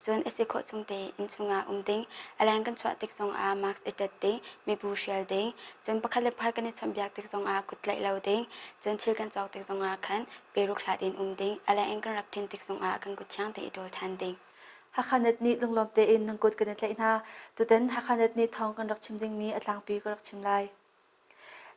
Cun a si khawh chung te inn chungah um ding, a leng kan chuah tik zongah mask i ṭat ding, mibu hrial ding, cun pakhat le pakhat kan i chawnhbiak tik zongah kut tlaih lo ding, cun thil kan cawk tik zongah khan peruk hlat in um ding, a leng in kan rak ṭin tik zongah kan kut thiang te i ṭawl ṭhan ding. Hakhanet nih lunglawm tein nan kut kan i tlaih hna. Tutan Hakhanet nih thawng kan rak chim dingmi a tlangpi ka rak chim lai.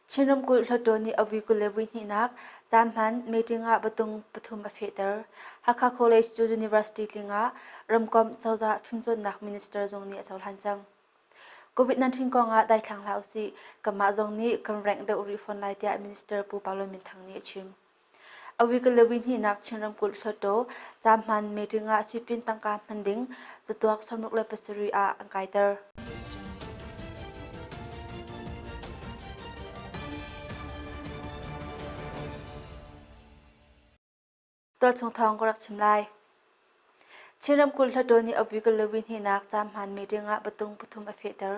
Chin ramkulh hluttaw nih a vui kul le vui hnihnak caan hman meeting ah batung pathum a fehter. Hakha College cu University tling ah ramkomh cozah fimcawnnak minister zong nih a cohlan cang. COVID-19 kong ah daithlang hlah usih. Kanmah zong nih kan rank deuh rih fawn lai tiah Minister Pu Palo Minthang nih a chim. Awigalawi hnihnak Chin ramkulh Hluttaw caahman meeting ah sipin tangka hman ding catuak sawmruk le pasarih ah an kaiter. Tualchung thawng ka rak chim lai. Chin ramkulh hlaṭawl nih Avigalawi hnihnak caamhman meeting ah patung pathum a fehter.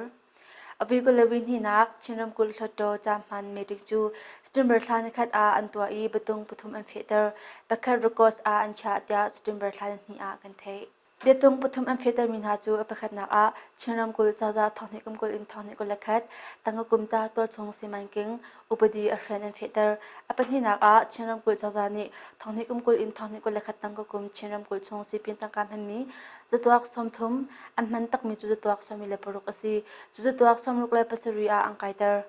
Avigalawi hnihnak Chin ramkulh hlaṭaw caamhman meeting cu September thla nikhat ah an tuah i patung pathum an fehter. Pakhat Records ah an chiah tiah September thla nihnih ah kan theih. Biatung pathum an fehtermi hna cu a pakhatnak ah Chin ramkulh cozah thawnghnihkum kulh in thawnghnihkulh le khat, Tangka kum ca tualchung simanking, upadi a hren an fehter. A pahnihnak ah Chin ramkulh cozah nih thonghnih kum kul in thonghnih kul le khat tang ka kum Chin ramkulh chung sipin tangka hmanmi zatuak sawmthum an hman takmi cu zatuak sawm le paruk a si. Cu zatuak sawmruk le pasarih ah an kaiter.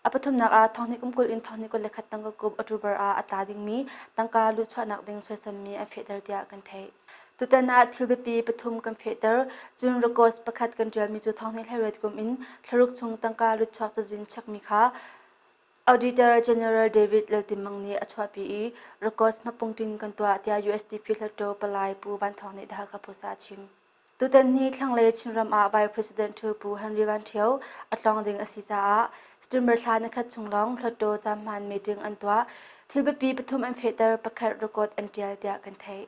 A pathumnak ah thonghnih kum kul in thonghnih kul le khat tang ka kum October ah a tla dingmi tangka luhchuahnak ding suaisammi an fehter tiah kan theih. Tutan ah thil biapi pathum kan fehter, cun records pakhat kan ṭialmi cu Thawngthei Hleirut kum in thlaruk chung tangka lutchuak cazin chekmi kha Auditor General David Laltimmang nih a chuahpi i records hmapung ṭing kan tuah tiah USDP hlatṭo palai Pu Van Thawng nih Dhaka Post ah a chim. Tutan hi thlanglei Chinram ah Vice President ṭhu Pu Henry Van Ṭhio a tlawng ding a si caah September thla nikhat chung lawng hlatṭo cam hmaan meeting an tuah. Thil biapi pathum an fehter, pakhat record an ṭial tiah kan theih.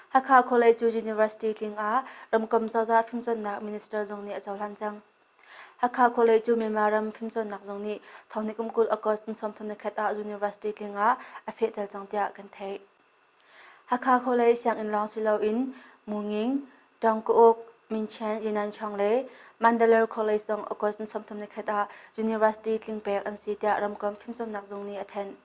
Hakha College University tling ah Ramkam Cozah Fimcawnnak Minister zong nih a cohlan cang. Hakha College Myanmar ram fimcawnnak zong nih thawngnikum kul August ni sawmthum ni khat ah University tling ah a fehtel cang tiah kan theih. Hakha khualei sianginn lawng si loin Mu Nging, Ṭang Ka Uk, Min Chen, Ynan Chong le Mandalore khualei zong August ni sawmthum ni khat ah University tling pek an si tiah ramkomh fimcawnnak zung nih a thanh.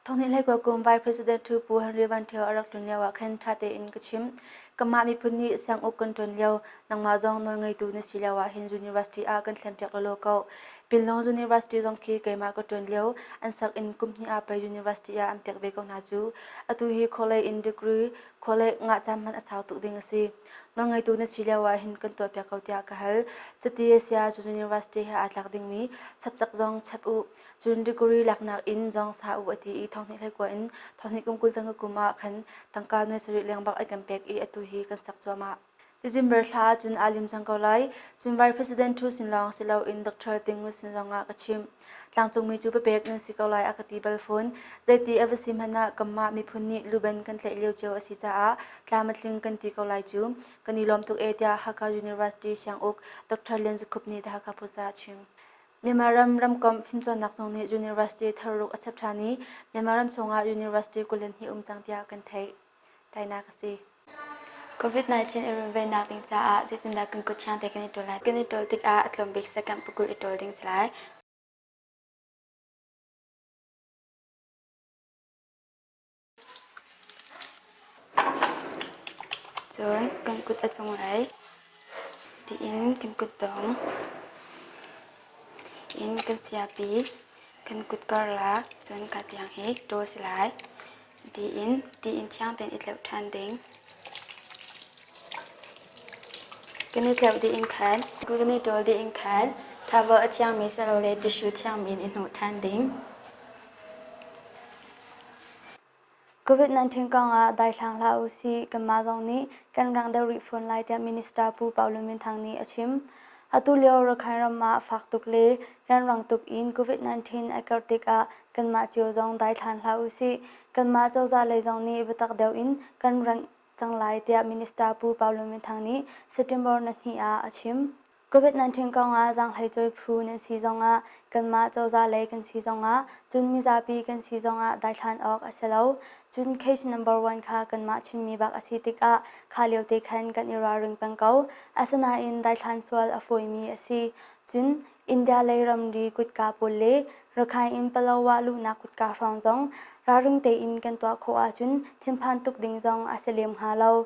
Thawnghnihhlei kuak kum Vice President Pu Henry Van Ṭhio a rak tlun lio ah khan ṭha tein ka chim. Kanmah miphun nih sianguk kan ṭuan lio nangmah zong nawlngeitu na si lio ah hin University ah kan thlen piak lawlaw ko. Pinlong University zong khi keimah ka ṭuan lio an sak in kum hnih ah pei university ah an pek ve ko hna cu. Atu hi khawlei in degree khawlei ngah caan hman a sau tuk ding a si. Nawlngeitu na si lio ah hin kan tuahpiak ko tiah ka hal. Cuti a si ahcun university he aa tlak dingmi subject zong chap u. Cun degree laknak in zong sa u a ti i thonghnih hleikua in thonghnih kum kul tang ka kum ah khan tangka nuai sarih leng bak ai kan pek i atu hi kan sak cuahmah. December thla cun aa lim cang ko lai. Cun Vice President Thu sin lawng si loin Dr. Ting Ngut sin zong ah ka chim. Tlangcungmi cu papek nan si ko lai a ka ti bal fawn. Zeiti a va si hmanh ah kanmah miphun nih luban kan tlaih lio cio a si caah tlam a tling kan ti ko lai cu. Kan i lawm tuk e tiah Hakha University Sianguk Dr. Lian Za Khup nih The Hakha Post ah a chim. Myanmar ram ramkomh fimcawnnak zung nih university thar ruk a chep ṭhan i Myanmar ram chungah university kul in hi um cang tiah kan theih. tainak a si. COVID-19 i runvennak ding caah zeitindah kan kut thiang te kan i ṭol lai? Kan i ṭol tikah a tlawmbik sekam pakul i ṭol ding si lai. Cun kan kut a cunglei tiin kan kut dong in kan siapi kan kut karlak cun ka tiang hi ṭaw si lai. tiin tiin thiang tein i tleuh ṭhan ding. Kan i tleuh dih in khan, kan i ṭawl dih in khan, thavel a thiangmi silole tishu thiangmi in i hnawh ṭhan ding. COVID-19 kong ah daithlang hlah u si, kanmah zong nih kan rang deuh rih fawn lai tiah Minister Pu Pau Lun Min Thang nih a chim. Atu lio Rakhine ram ah fak tuk le rianrang tuk in COVID-19 a karh tikah kanmah cio zong daithlan hlah u sih. Kanmah cozah lei zong nih biatak deuh in kan rengh cang lai tiah Minister Pu Paulo Minthang nih September nahnih ah a chim. COVID-19 kongah zaanghlei cawi phu nan si zongah, kanmah cozah lei kan si zongah, cun mizapi kan si zongah daithlan awk a si lo. Cun case number one kha kanmah chimmi bak a si tikah kha lio te khan kan i ralring peng ko. Asinain daithlan sual a fawimi a si. Cun India lei ramri kutka pawl le Rakhine in Palawa luhnak kutka hrawng zong ralring tein kan tuah khawh ahcun thinphan tuk ding zong a si lem hnga lo.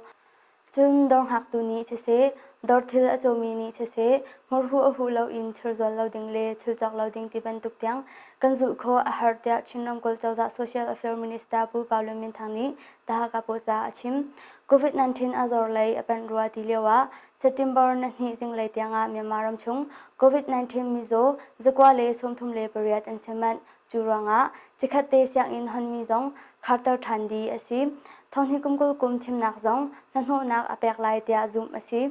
Cun dawr ngaktu nih siseh, dawr thil a cawmi nih siseh, murhu a huh loin thir zual lo ding le thil cawk lo ding ti bantuk tiang kan zulh khawh a har tiah Chin ramkulh cozah Social Affairs Minister Pu Paulo Minthang nih Tahaka Posa a chim. COVID-19 a zor lei a panh rua ti lioah September na hnih zinglei tiangah Myanmar ramchung COVID-19 mizaw zakua le sawmthum le pariat an sem manh. Cu ruangah cikhat te sianginn honmi zong kharter ṭhan dih a si. Thonghni kum kul kum thimnak zong hnahnawhnak a pek lai tiah zumh a si.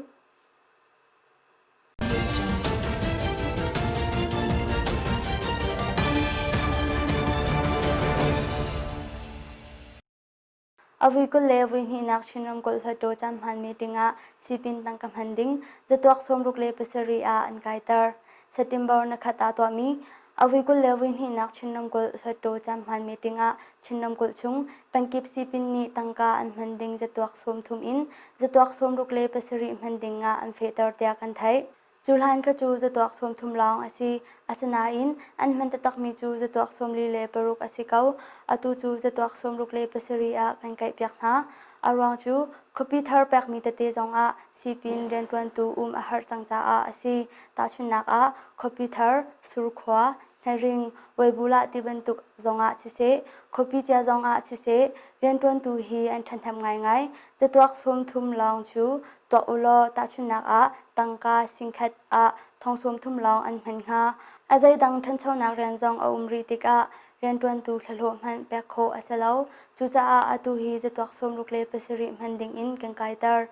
A vui kul le vui hnihnak Chin ramkulh Hluttaw caan hmaanmi dingah sipin tangka hman ding zatuak sawmruk le pasarih ah an kaiter. September na khat ah tuahmi a vui kul le vui hnihnak Chin ramkulh Hluttaw caan hmaanmi dingah Chin ramkulh chung pengkip sipin nih tangka an hman ding zatuak sawmthum in zatuak sawmruk le pasarih hman dingah an fehter tiah kan theih. Cu hlan ka cu zatuak sawm thum lawng a si, asinain an hman taktakmi cu zatuak sawm li le paruk a si ko. Atu cu zatuak sawm ruk le pasarih ah kan kaihpiak hna. A ruang cu khuapi thar pekmi tete zongah sipin rianṭuantu um a harh cang caah a si. Tahchunhnak ah, khuapi thar, surkhua, hnaring, weibulah ti bantuk zongah siseh, khuapi cia zongah siseh, rianṭuantu hi an ṭhathnem ngaingai. Zatuak sawm thum lawng cu tuah u law tahchunhnak ah tangka singkhat ah thong sum thum lawng an hman hnga. A zeidang ṭhanchonak rian zong a um rih tikah rianṭuantu thlahlawh hmanh pek khawh a si lo. Cucaah atu hi zatuak sawmruk le pasarih hman dingin kan kaiter.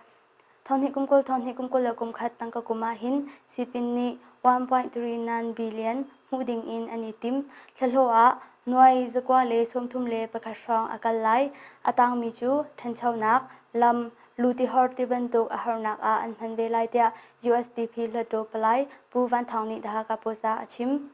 Thonhnih kum kul, thonhnih kum kul le kum khat tangka kum ah hin sipin nih 1.39 billion hmuh dingin an i tim. Thlahlawh ah nuai zakua le sawmthum le pakhat hrawng a kal lai. A tangmi cu ṭhanchonak, lam, Lutihor tibantuk a harnak ah an hman ve lai tiah USDP hluttaw palai Pu Van Thawng nih The Hakha Post ah a chim.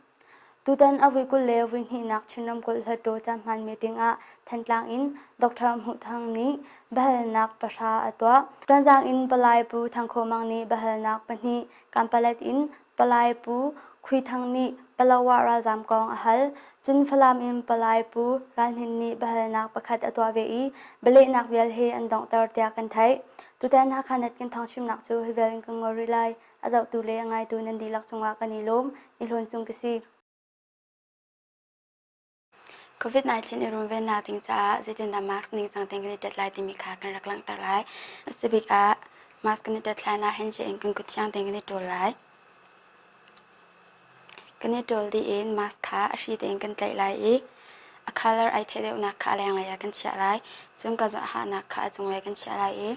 Tutan a vui kul le vui hnihnak Chin Ramkulh Hluttaw Cahman meeting ah Thantlang in Dr. Hmuh Thang nih biahalnak pahra a tuah. Tuanzang in Palai Pu Thang Khaw Mang nih biahalnak pahnih kampalet in Palai Pu Khui Thang nih Palohah ralzaam kong a hal. Cun Falam in Palai Pu Ral Hnin nih biahalnak pakhat a tuah ve i bialehnak vial he an donghter tiah kan theih. Tutan Hakhanat kan thawngchimnak cu hi vial in kan ngol rih lai. A zohtu le a ngaitu nan dihlak cungah kan i lawm. I hlawn sung ka si. COVID-19 i runvennak ding caah zeitindah mask ningcang tein kan i tet lai timi kha kan rak langhter lai. A si bik ah mask kan i tet hlan ah hand in kan kuthiang tein kan i ṭul lai. Kan i ṭul dih in mask kha a hri tein kan tlaih lai i a colour ai theh deuhnak kha a lenglei ah kan chiah lai. Cun ka zawhahnak kha a cunglei kan chiah lai i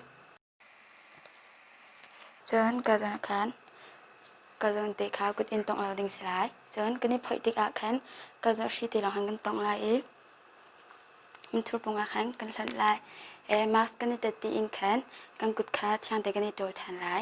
Cun ka zan ah khan ka zawnte kha kut in tongh lo ding si lai. Cun kan i phoih tikah khan ka zarhri te lawng khan kan tongh lai i mithurpung ah khan kan hlonh lai i mask kan i tat tiin khan kan kut kha thiangte kan i ṭawl ṭhan lai.